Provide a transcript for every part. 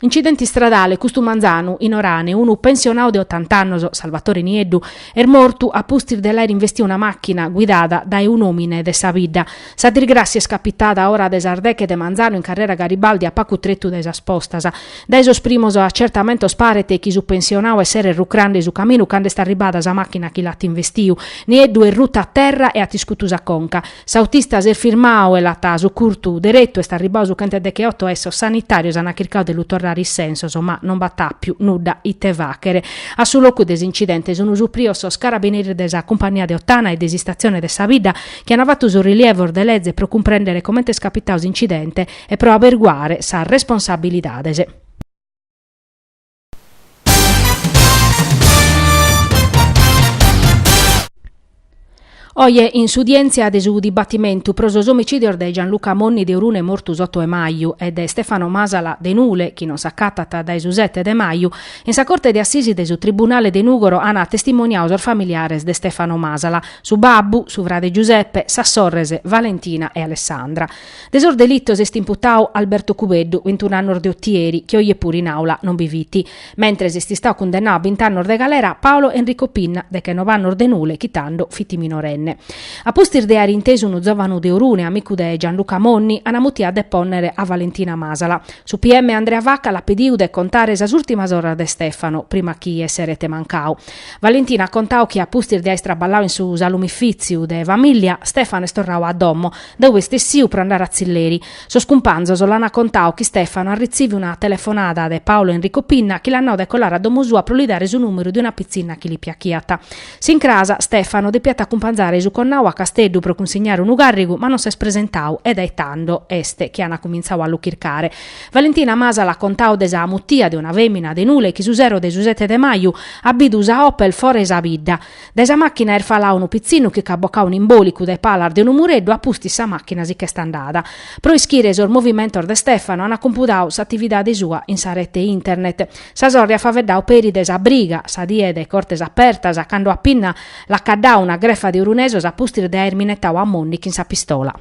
Incidente istradale, custu manzanu, in Orane, unu pensionau de otant'annos, Salvatore Nieddu, est mortu a pustis de l'aer investiu una machina guidada dae un'omine de sa bidda. Sa dirgrassia est capitada a ora de sas deche de manzanu in carrera Garibaldi a pacu tretu dae sas postas. Dae sos primos acertamentos paret chi su pensionau esseret rucrande su caminu cand'est arribada sa machina chi l'at investiu. Nieddu est rutu a terra e at iscutu sa conca. S'autista s'est firmau e l'at sucurtu deretu, est arribbau su chent'e decheotto e sos sanitarios ant chircau de lu torrare in sensos ma non b'at appiu nudda ite faghere. A su locu de s'incidente sun suprios sos carabineris de sa cumpagnia de Ottana e de s'Istazione de sa Bidda chi ant fattu sos rilievos de leze pro cumprendere comente est capitau s'incidente e pro aberguare sas responsabilidades. Oje in s'udièntzia de su dibatimentu pro sos omicìdios de Gianluca Monni de Orune mortu s'oto de maju e de Stefano Masala de Nule chi non s'acatat dae su sete de maju, in sa Corte de Assisi de su Tribunale de Nùgoro ant testimoniau sos familiares de Stefano Masala, su babbu, su frade Giuseppe, sas sorres Valentina e Alessandra. De sos delitos est imputau Alberto Cubeddu, bintun'annos de Otieri, chi oje puru in àula non bi fit. Mentres est istau cundennau a bint'annos de galera Paolo Enrico Pinna, dechenov'annos de Nule, chi tando fit minorenne. A pustis de àere intesu unu zòvanu de Orune, amicu de Gianluca Monni, ana mutiu a depònnere a Valentina Masala. Su PM Andrea Vacca l'at pediu de contare sas ùrtimas oras de Stefano, prima chi esseret mancau. Valentina at contau chi a pustis de àere traballau in su salumifìtziu de famìllia, Stefano est torrau a domo, Dae pustis est essiu pro andare a tzilleri. Sos cumpanzos l'ana contau chi Stefano at retziviu una telefonada de Paolo Enrico Pinna chi l'at nau de colare a domo sua pro li dare su numeru de una pitzinna chi li piachiat. S'incras, Stefano depiat acumpanzare su connau a Casteddu pro cunsignare unu carrigu ma non s'est presentau e dae tando est chi an cuminzau a lu chircare. Valentina Masala at contau de sa mutia de una femina de Nule chi su sero de su sete de maju at bidu sa Opel fora 'e sa bidda. Dae sa màchina est falau unu pitzinnu chi ch'at bocau un'imbòlicu dae palas de unu mureddu a pustis sa màchina si ch'est andada. Pro ischire sos movimentos de Stefano ant cumpudau s'atividade sua in sa rete internet. Sa sorre at faveddau peri de sa briga, sa die de Cortes Apertas, cando a Pinna l'at caddau una grefa de orunesos a pustis de aer minetau a Monni chin sa pistola.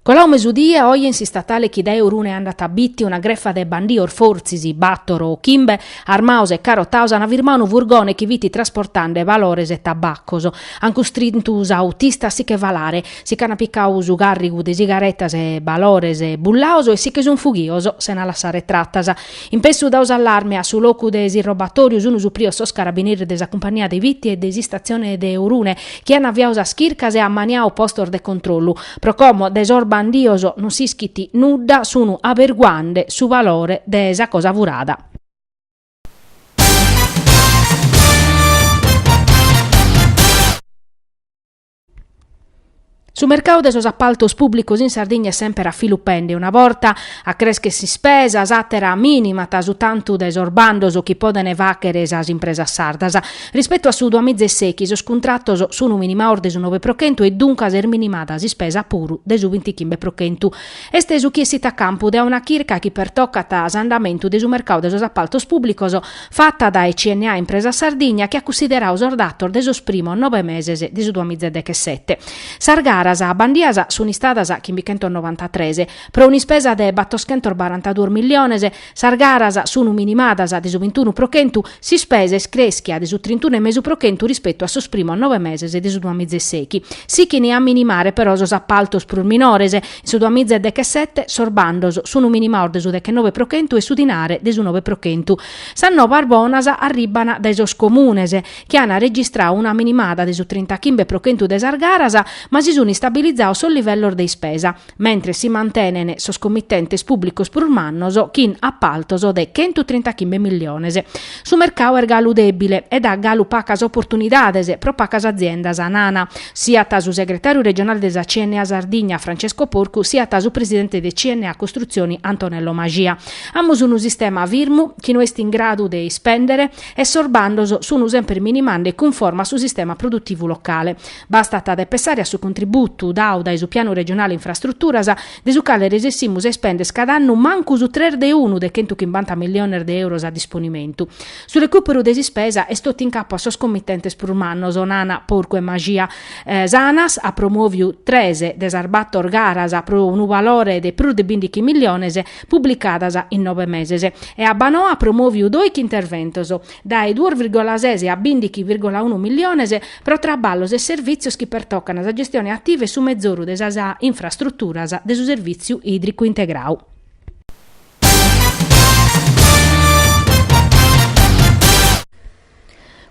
Colau mesudie, oje in s'istatale chi dae Orune andat a Bitti una grefa de bandios, fortzis battor o chimbe, armaos e carotaos an firmau unu furgone chi fit trasportande balores e tabaccos. An custrintu s'autista a si che falare, si ch'an picau su carrigu de sigaretas e balores bullaos e si che sun fughios sena lassare tratas. In pessu dau s'allarme a su locu de s'irrobatoriu sunu suprios sos carabineris de sa cumpania de Bitti e de s'istazzione de Orune chi an aviau sas chircas e ammaniau postos de controllu. Pro como de sos bandios non s'ischit nudda sunu aberguande su valore de sa cosa furada. Su mercadu de sos appaltos pùblicos in Sardigna est semper a filu pende, una borta acreschet s'ispesa, s'àtera minimat su tantu de sos bandos chi podent fàghere sas impresas sardas. Rispetu a su duamiza e sechi sos cuntratos sun minimados de su nobe pro chentu e duncas est minimada s'ispesa puru de su bintichimbe pro chentu. Est su chi essit a campu de una chirca chi pertocat s'andamentu de su mercadu de sos appaltos pùblicos, fata dae CNA Impresa Sardigna chi at cussideradu sos datos de sos primos nobe meses de su duamiza e dechesete. Sas garas bandias sunt istadas chimbichentonobantatres, pro un'ispesa de battoschentobarantaduos milliones, sas garas sunt minimadas de su bintunu pro chentu, s'ispesa est crèschia de su trintunu e mesu pro chentu rispetu a sos primos nobe meses de su duamiza e seghi. Sichint a minimare però sos appaltos prus minores, In su duamiza e dechesete sos bandos sun minimados de su dechenove pro chentu e su dinare de su nove pro chentu. Sas nobas bonas arribban dae sos comunes, chi an registradu una minimada de su trintachimbe pro chentu de sas garas, ma si sun istabilizados sos livellos de ispesa, mentres si mantenen sos commitentes pùblicos prus mannos chin apaltos de chentu trintachimbe milliones. Su mercadu est galu dèbile e dat galu pacas oportunidades pro pacas aziendas, nana Siat su segretàriu regionale de sa CNA Sardigna, Francesco Porcu, siat su presidente de CNA Costruzioni, Antonello Mascia. Amus unu sistema firmu, chi no est in gradu de ispèndere e sos bandos sun semper minimande cunforma a su sistema produtivu locale. Bastat de pensare a su contributu dadu dae su Pianu Regionale Infrastruturas, de su cale resessimus a ispènder cada annu mancu su tres de unu de chentu chimbanta milliones de euros a disponimentu. Su recùperu de s'ispesa est totu in capu a sos comitentes prus mannos, nana Porcu e Mascia. S'Anas at promòviu tres de sas bator garas pro unu valore de prus de bìndighi milliones publicadas in nove meses e Abbanoa at promòviu doighi interventos, dae duos virgola ses a bìndighi virgola unu milliones, pro traballos e servìtzios chi pertocan sa gestione ativa e su mezoru de sas infrastruturas de su Servìtziu Ìdricu Integradu.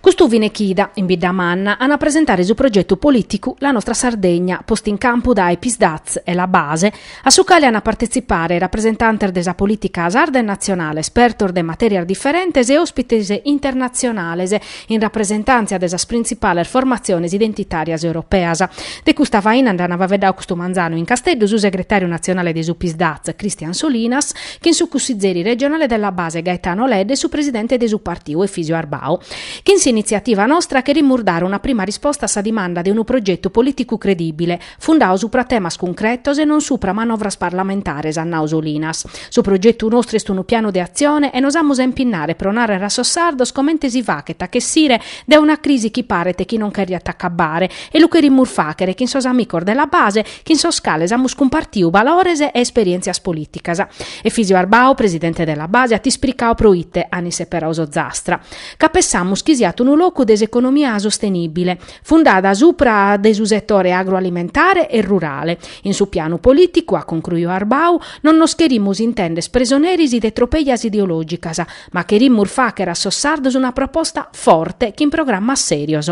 Custu fine chida, in Biddamanna, an a presentare su progetu polìticu La nostra Sardegna, postu in campu dae Psd'Az e La Base, a su cale an a partetzipare rapresentantes de sa polìtica sarda e natzionale, espertos de matèrias diferentes e òspites internatzionales, in rapresentàntzia de sas printzipales formatziones identitàrias europeas. De custa faina nd'an faveddadu custu manzanu in Casteddu su segretàriu natzionale de su Psdaz, Christian Solinas, chin su cussizeri regionale de La Base, Gaetano Ledda, e su presidente de su partiu, Efisio Arbau. Chin s'initziativa nostra cherimus dare una prima risposta a sa dimanda de unu progetu polìticu credìbile, Fundau supra temas cuncretos e non supra manovras parlamentares, at nau Solinas. Su progetu nostru est unu pianu de atzione e nos amus a impinnare pro nàrrere a sos sardos comente si faghet a ch'essire dae una crisi chi paret chi non cheriat acabare e lu cherimus fàghere chin sos amicos de la base chin sos cales amus cumpartiu balores e esperièntzias polìticas. Efisio Arbau, presidente de la base, at ispricau pro ite an isseperau s'Ozastra. Ca pessamus chi siat unu locu de s'economia sostenìbile. fundada supra de su setore agroalimentare e rurale. In su pianu polìticu, at concruiu Arbau, non nos cherimus intender presoneris de tropejas ideològicas, ma cherimus fàghere a sos sardos una proposta forte chin programmas sèrios.